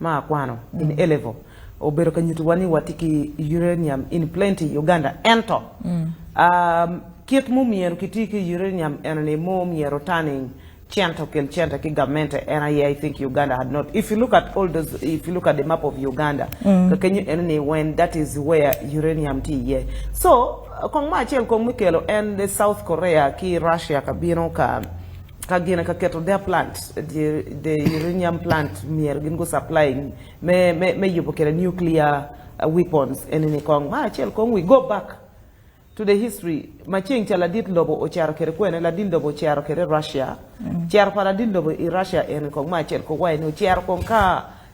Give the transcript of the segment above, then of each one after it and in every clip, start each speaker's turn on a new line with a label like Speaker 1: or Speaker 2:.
Speaker 1: ma akwano mm. in elevo obedo ka nyutuwa ni wati ki uranium in plenty uganda ento mm. um, kit mu myero kiti ki uranium eno ni mu myero tani cento kel cento ki gamente ena ye i think uganda had not if you look at all those if you look at the map of uganda mm. kakenyo eno ni when that is where uranium ti ye so kong ma achiel kong mikelo en the south korea ki russia kabino ka kagina ka keto their plant the, the uranium plant mier gin go supplying me me me yubo kere nuclear uh, weapons en ni kong ma achiel kong we go back to the history maching chala dit lobo ocharo kere kwene la din lobo ocharo kere Russia mm. char para din lobo i Russia en kong ma achiel ko wai no char kong ka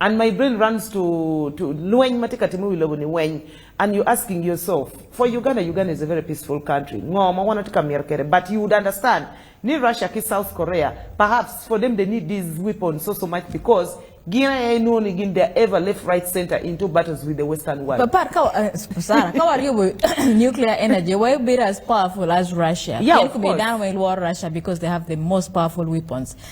Speaker 1: and my brain runs to to Nweny mateka timu iluongo ni Nweny and you asking yourself for Uganda Uganda is a very peaceful country ngoma wanataka mierkere but you would understand ni Russia ki South Korea perhaps for them they need these weapons so so much because gina ya know ni gin they ever left right center into battles with the western world papa ka uh,
Speaker 2: sara ka wari bu nuclear energy why be as powerful as Russia yeah, of course. be down with
Speaker 1: war
Speaker 2: Russia because they have the most powerful weapons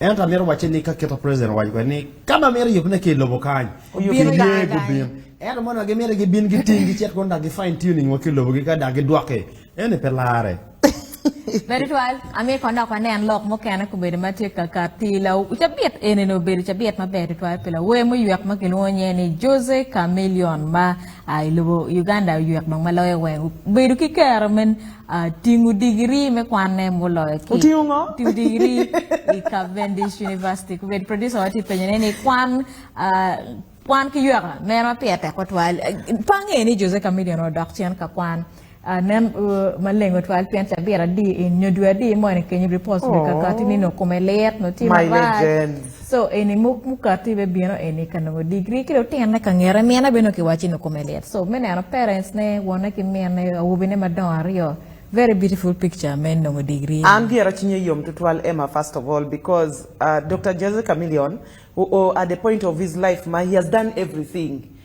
Speaker 3: Ento amito wacce ni ka keto president owaco kwe ni ka ma mito yubne ki i lobo kany Oyub. Bino iye kany. gubin ento mono wa gimito gibin giting gicit kun dak gi fine tuning wa ki lobogi ka dak gidwoki eni pe lare Very
Speaker 2: well. Ami ko nok ane an lok mokene ko bedo matye ka ka tila. Ucha biet ene no bedo cha biet maber to twal pila. We mu ywek ma giluwo nye ni Jose Chameleon ma a ilubo Uganda ywek dong maloyo we. Bedo ki kero men Uh, tingo digiri me kwanne muloyo ki otingo ngo tingo digiri i Cavendish University kubed producer wati penyone ni kwan uh, kwan ki yweka meno pia tek otwal pange ni Jose Chameleon odok cen ka kwan uh, nen uh, maleng otwal pien ca bira di i nyodwa di mo ni kenyi report ni kakati ni no kume ler no ti My marat legends. So
Speaker 1: eni muk
Speaker 2: mukati be bino eni ka nongo degree ki otin na ka ngera mina bino ki wachi no kumelet. So mene ano parents ne wona ki mina ne awubi ne madongo aryo. Very beautiful picture men nongo degree. An diera chinye yom
Speaker 1: tutwal Emma first of all because uh, Dr. Jose Chameleon, who, who, at the point of his life, ma, he has done everything.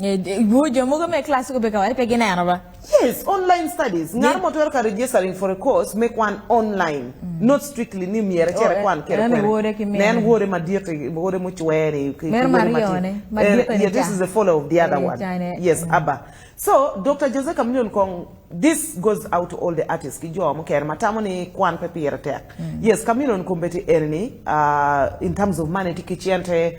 Speaker 1: Eh, Gujo
Speaker 2: mugo me class ko beka wari pegi neno ba.
Speaker 1: Yes, online studies. Ng'ar mo twero ka registering for a course make one online. Mm. Not strictly ni miere chere oh, eh, kwan kere kere. Wore ki miere. Nen wore ma diete, wore mo chwere. Mer marione. Ma eh, diete Yeah, this is the follow of the other one. Yes, mm. Abba. So, Dr. Jose Camillion Kong, this goes out to all the artists. Kijo mo kere matamo ni kwan pe piere tek. Mm. Yes, Camillion Kumbeti Erni, uh, in terms of money, tikichiente,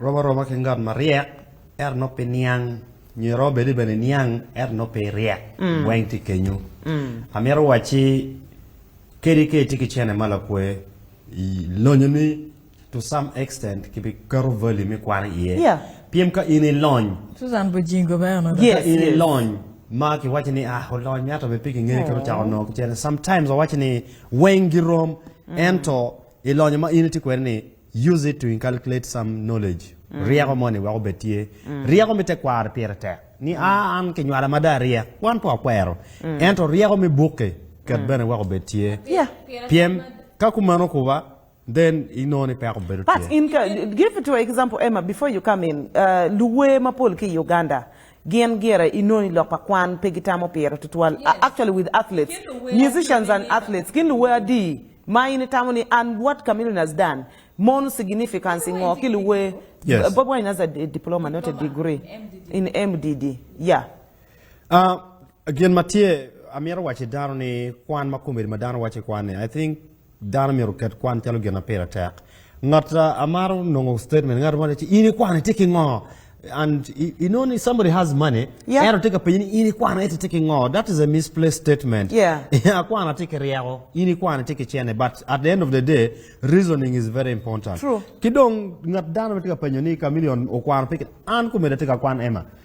Speaker 3: Romo aroma ki ngat maryek ento nongo pe niang nyo iromo bedi bene niang ento nongo pe iryek weng tye kenyo amito wacci kadi ka itye ki cene ma lakwe i- lonyo ni to some extent kibiketo value me kwano iye Yeah. pyem ka in
Speaker 1: ilony
Speaker 3: Susan Bujingo ba
Speaker 2: ono. Yes, ka in yes. ilony
Speaker 3: ma kiwaci ni ah olony miato be piki ngeye kero cako nongo kicene sometimes wawaci ni weng girom ento ilonyo ma in itye kwede ni use it to inculcate some knowledge mm. rieko moni weko be tye mm. rieko me tekwaro pire tek ni mm. a ah, an kinywala ma da riek wan po akwero mm. ento rieko me bukke ket mm. bene weko be tye yeah. piem
Speaker 1: ka
Speaker 3: kumano kuba then inoni peko bedo but in
Speaker 1: give it to example emma before you come in uh, luwe mapol ki uganda Gin gire i nongo i lok pa kwan pe gitamo pire tutwal. Yes. Actually with athletes, musicians and athletes, gin luwe adi ma in itamo ni and what Chameleone has done mon significance ngo ki luwe. Yes. Bob Wine has a diploma, not a degree MDD. in MDD. Yeah. Uh,
Speaker 3: again, Mathieu, amiro wache dano ni kwan ma komedi ma dano wache kwan ni. I think Dano myero oket kwan calo gin ma pire tek. Ngat ah, amaro nongo statement ngat mo ci in ikwana itye ki ngo and i- you know somebody has money Yeah. ero tye ka penyo ni in ikwana ite tye ki ngo that is a misplaced statement Yeah. akwana
Speaker 1: tye ki ryeko
Speaker 3: in ikwana tye ki cene but at the end of the day reasoning is very important True. ki dong
Speaker 1: ngat
Speaker 3: dano ma tye ka penyo ni chameleon okwano peke an kumeda tye ka kwan ema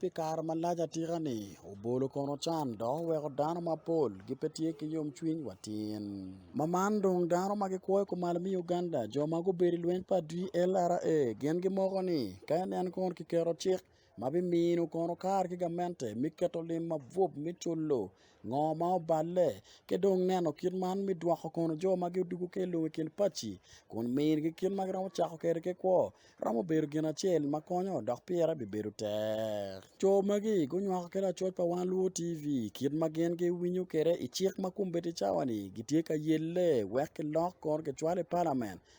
Speaker 4: pi kare malac atika-ni obolo kono can dok oweko dano mapol gipe tye ki yomcwiny watin ma man dong dano ma gikwoyo kumalo mi Uganda jo ma gubedo i lweny pa DLRA gin gimoko ni ka nen kono kiketo cik ma bimino kono kar ki gamente me keto lim mabup me culu ngo ma oballe ki dong neno kit man me dwoko kono jo ma gudwogo ki i lobo i kin paci kun minigi kit ma giromo cako kwede ki kwo romo bedo gin acel ma konyo dok pire bibedo tek co magi gunywako ki lacoc pa Wan Luo TV kit ma gin giwinyo kwede i cik ma kombeddi cawa-ni gitye ka yelle wek kilok kono kicwal i palamen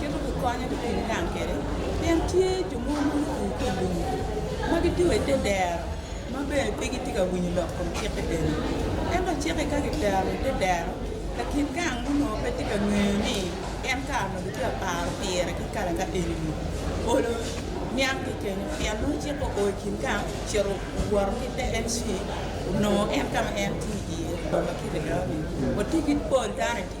Speaker 5: Kendo gikonyo jopiny gang kere pien tye jo mo muruku ki lum ma gitye wa ite dero ma bene pe gitye ka winyo lok kom cik i dero ento cik ka gitero ite dero lakin gang muno pe tye ka ngeyo ni en kar ma gitye ka paro pire ki kare ka eni olo niang ki kenyo pien nongo cik o o kin gang ciro woro ki te en ci nongo en kama en tye iye ma kite dero ni watye ki pol dano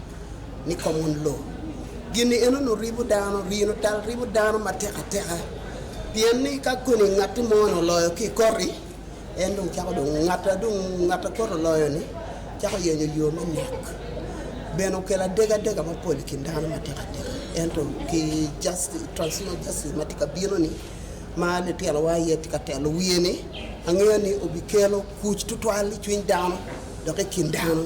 Speaker 6: ni common law gini eno no ribo dano rino tal ribo dano matek ateka pien ni ka koni ngat mo no loyo ki kori en dong chako dong ngat dong ngat koro loyo ni chako yenyo yo me nek bene okelo adega adega mapol i kin dano matek ateka ento ki justice transitional justice ma tye ka bino ni ma litelowa iye tye ka telo wiye ni angeyo ni obikelo kuc tutwal i cwiny dano dok i kin dano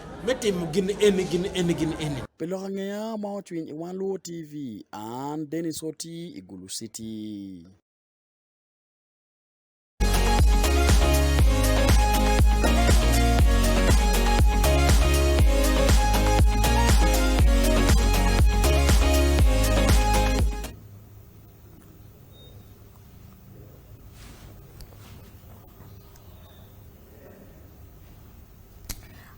Speaker 7: me timo gin eni gin eni gin eni pi lok angea
Speaker 4: ma ocwiny i wan luo tv an denis oti i gulu city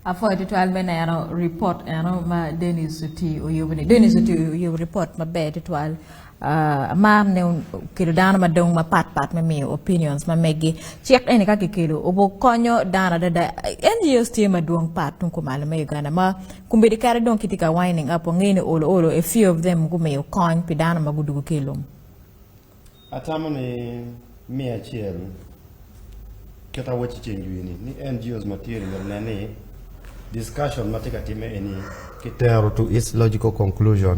Speaker 2: afo e tutwal me neno report eno ma Dennis oti oyubo ni Dennis oti oyubo report maber tutwal uh, amam ne kelo dano madong mapat pat me miyo opinions ma megi cik eni ka kikelo obo konyo dano adada NGOs tye madwong pat tung kumalo me Uganda ma kumbedi kare dong kiti ka winding up ong'e ni olo olo a few of them gumiyo kony pi dano ma gudugo kelum Atamo ni
Speaker 3: mia achiel kata wachi chenjwini ni NGOs material na ni discussion mateka time eni kitero to its logical conclusion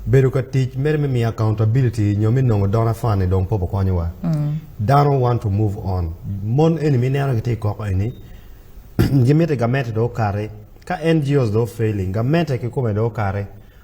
Speaker 3: bedo ka tic mere me miyo accountability nyo mi nongo dona fane dong popo konyowa mm. dano want to move on mon eni mi neno giti koko eni gimite gamete do kare ka ngos do failing gamete ki kome do kare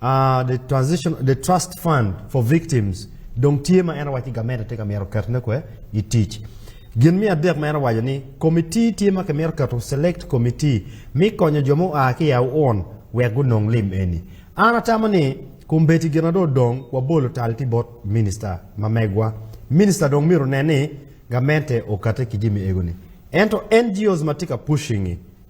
Speaker 3: Uh, the transition the trust fund for victims dong tye ma en awaci gamete tye ka mito ketone kwe i tic gin me adek ma en awaco ni komiti tye ma kimito keto select komiti mi konyo jo ma oa ki yaw on wek gunong lim eni an atamo ni kumbeti gin ado dong wabolo tal ti bot minista ma megwa minista dong mito ne ni gamente okate ki jimi egoni ento ngos ma tye ka pushing-i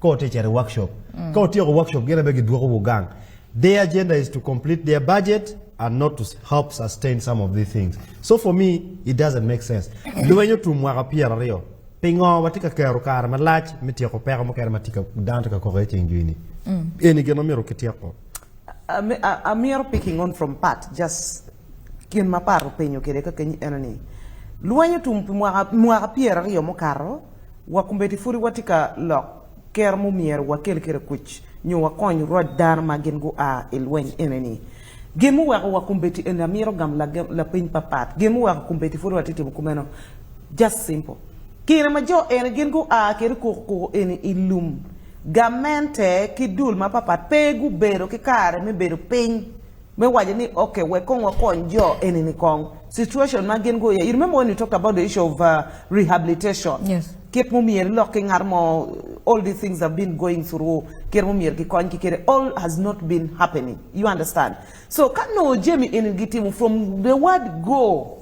Speaker 3: ka oticere workshop mm. ka otieko workshop gin abe gidwoko wugang their agenda is to complete their budget and not to help sustain some of these things so for me it doesn't make sense lweny otum mwaka pier ariyo pingo watye ka kero kare malac me tyeko peko mukene ma dano tye ka koko i ceng jwini mm. eni gin omyero kityeko I'm, I'm
Speaker 1: here picking on from Pat, just Gin ma par openyo kede ka keny ene ni lweny otum pi mwaka mwaka pier aryo mukato wa kumbeti furi wati ka lok ker mu myero wakel kede kuc nyo wakony rwod dano ma gin gua i lweny ene ni gin mu weko wa kumbeti ene amiro gam lagem- lapiny papat gin mu weko kumbeti furi wati timo kumeno just simple kine ma jo ene gin gua kede koko koko ene i lum gamente ki dul mapapat pe gubedo ki kare me bedo piny me wacho ni okay we kong wakony jo enini kong situation ma gin go you remember when you talked about the issue of uh, rehabilitation yes kit
Speaker 2: mumier lok ki
Speaker 1: ngar mo all these things have been going through kir mumier ki kony ki kere all has not been happening you understand so kano jemi in gitimu from the word go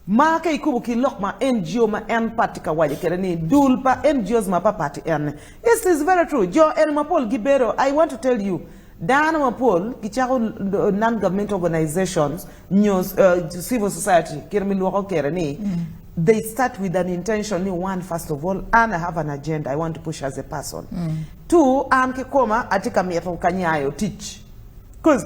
Speaker 1: ma ka ikubo ki lok ma NGO ma en party ka waje kere ni dul pa NGOs ma pa party en this is very true jo en mapol gibero I want to tell you dano mapol gichako non-government organizations news, uh, civil society kere milwoko kere ni mm. they start with an intention ni one first of all and I have an agenda I want to push as a person mm. two an kikoma atika mieto kanyayo teach because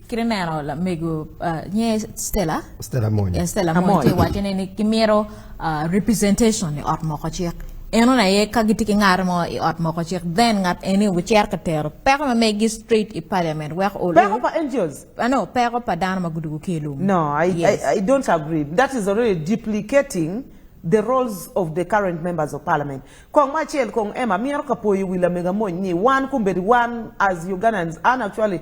Speaker 2: Criminal la mego uh, nye Stella Stella Moy eh, Stella Moy te wacho ni kimiro uh, representation ni ot moko chik eno na ye ka gitiki ngar mo i ot moko chik then ngat eni wucer ka tero peko ma megi street i parliament wek olu peko pa angels
Speaker 1: uh, no peko pa
Speaker 2: dano ma gudugu ki ilum no I, yes. I,
Speaker 1: I don't agree that is already duplicating the roles of the current members of parliament. Kong Machiel, Kong Emma, Mier Kapoyi, Willa Megamon, Ni, one Kumbedi, one as Ugandans, and actually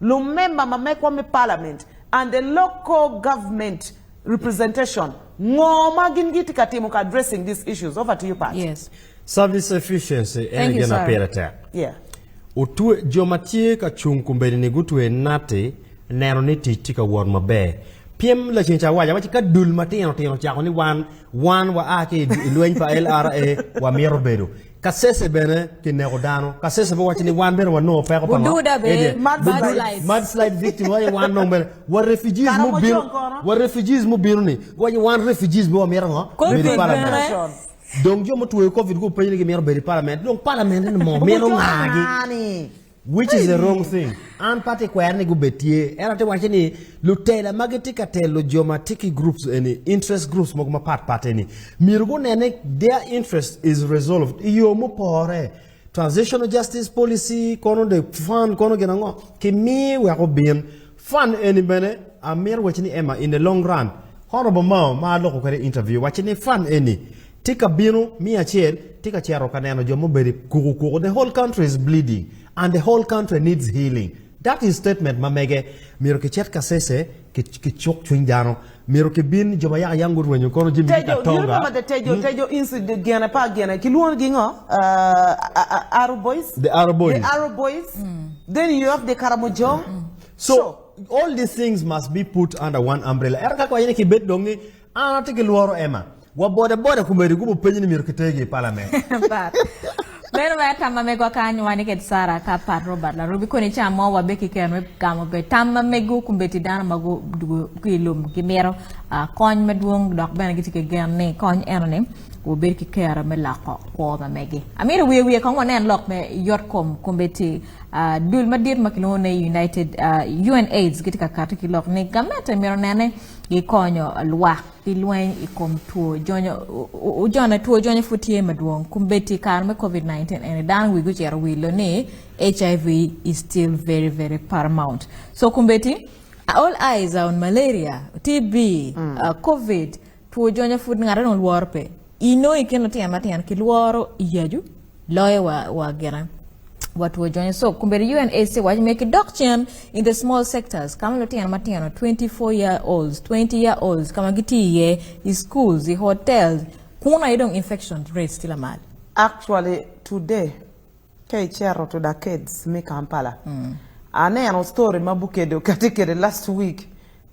Speaker 1: Lumemba mamekwa me parliament and the local government representation ng'o ma gin giti ka timo ka addressing these issues over to you Pat. Yes. Service
Speaker 3: efficiency en gima pire tek. Yeah.
Speaker 1: Utwe
Speaker 3: joma tye ka chung kumbeni ni gutwe nati neno ni tich tye ka wot maber. Piem laceng ca waca waci ka dul matino tino cako ni wan wan wa a ki lweny pa LRA wa mito bedo. ka sese bene ki neko dano ka sese pe wacho ni wan bene wanongo peko pa Bududa be, Ede, mud bu- bu- slide. mud slide victim waye wan nong bene wa refugees Kara mu mo bino chong kono. wa refugees mu bino ni waye wan refugees be wa mira ngo Covid Mira parliament. bene. Nation. dong jo mutweyo covid ku penyo ni gimiro bedo i parliament dong parliament ni mo mino ngagi Ngani. which is the wrong thing an party kwaya ni gubetie era te wache ni lutela magi ti katelo joma tiki groups any interest groups moko ma part part any miru gunene their interest is resolved iyo mopore transitional justice policy kono de fund kono gina ngo kimi we ko bin fund any bene amir wache ni emma in the long run honorable mao ma loko kare interview wache ni fund any Tye ka bino miya acel, tye ka cito ka neno jo mubedo kuku kuku. The whole country is bleeding and the whole country needs healing. That is statement ma mege. Miro ki chet ka sese ki ki chuk chuny dano. Miro ki bin jo ma yaka yangu rwenyo kono jimi ka tonga. Tejo, you remember the Tejo, hmm?
Speaker 1: Tejo incident gana pa gana. Ki luon gi ngo? Uh, Arrow Boys? The Arrow Boys. The Arrow
Speaker 3: Boys. Mm.
Speaker 1: Then you have the Karamojong. Mm. So, so,
Speaker 3: all these things must be put under one umbrella. Era kako ayene ki bet dongi, An atye ki lworo Emma. Wabode bode kumeri gubo penyo ni myero kitegi i parlament. But
Speaker 2: meno me tamma mego akanyo wan iked Sara ka pat Robert Larobi koni ca mo wabe ki keno me gamo be tamma mego kumbeti dano ma gudugo ki i lum gimito ah, kony madwong dok bene gitye ki gen ni kony eno ni wubed ki kero me loko kwo ma megi amito wiye wiye kong wanen lok me yot kom kumbeti ah, dul madit ma kilwongo ni United ah, UNAIDS gitye ka kati ki lok ni gamente mito nene gikonyo lwak i lweny i kom two jonyo ojone two jonyo pud tye madwong kun bed tye kare me covid-19 ene dano wigi ocito wilo ni hiv is still very very paramount so kun bed tye all eyes are on malaria tb mm. uh, covid two jonyo pud ngate dong lworo pe ino i kin lutino matino kilworo i yacu Loye wa, wa gera watu wajonye so kumbe UNAC wach make dok chien in the small sectors kama lutino matino 24 year olds 20 year olds kama gitiye i schools i hotels kuna idong infection rate still amali actually
Speaker 1: today ka ichero to the kids mi Kampala mm. aneno story ma bukedo kati kede last week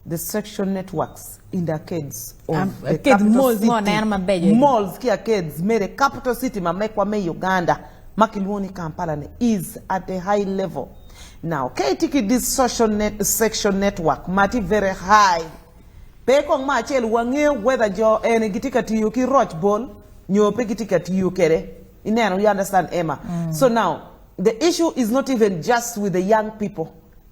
Speaker 1: the sexual networks in the arcades of um, the arcade capital
Speaker 2: malls, city. Malls, malls
Speaker 1: ki arcades mere capital city mamekwa me Uganda makiluoni Kampala ne is at a high level now kaitiki this social net, sexual network mati very high pe kong ma achiel wang'eyo whether jo en gitika tiyo ki roch bol nyope gitika tiyo kere ineno you understand Emma mm. so now the issue is not even just with the young people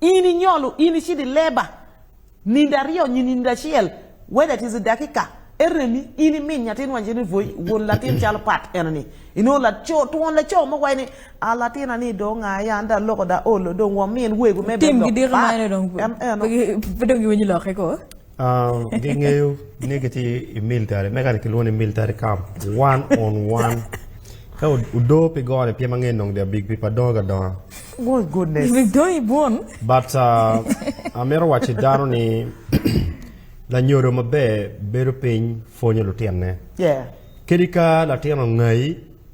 Speaker 1: in inyolo in ichidi leba nindo ariyo nyi nindo achiel whether it is dakika eremi in imin nyatin wanje ni voi wuon latin chalo pat en ni ino la cho tuon la cho mo wai ni a latin ani do nga ya nda loko da olo do wa min wegu me tim gi dir ma ne dong
Speaker 2: en en dong gi wani lo ko Um, ngi ngeyo
Speaker 3: negati i military me kati kilwoni military camp one on one ka udo pe gore pye mang'eny nong dia big pipa doga donga oh goodness
Speaker 1: big dogi bon
Speaker 2: but uh,
Speaker 3: amero wachi dano ni lanyodo maber bedo piny fonyo lutinne yeah kedi
Speaker 1: ka
Speaker 3: latin ongayi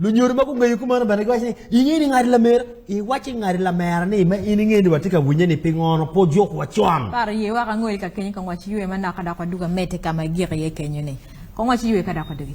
Speaker 3: lunyor ma kung'eyo kumano bende giwacho ni ing'e ni ng'adi lamera iwachi ng'adi lamera ni ma in ing'e ni watye ka winye ni piny ono po jok wacon Par ye waka ngoli ka
Speaker 2: kenye kong wachi yue mana kada kwa duga mete kama gira ye kenye ne. Kong wachi yue kada kwa dugi.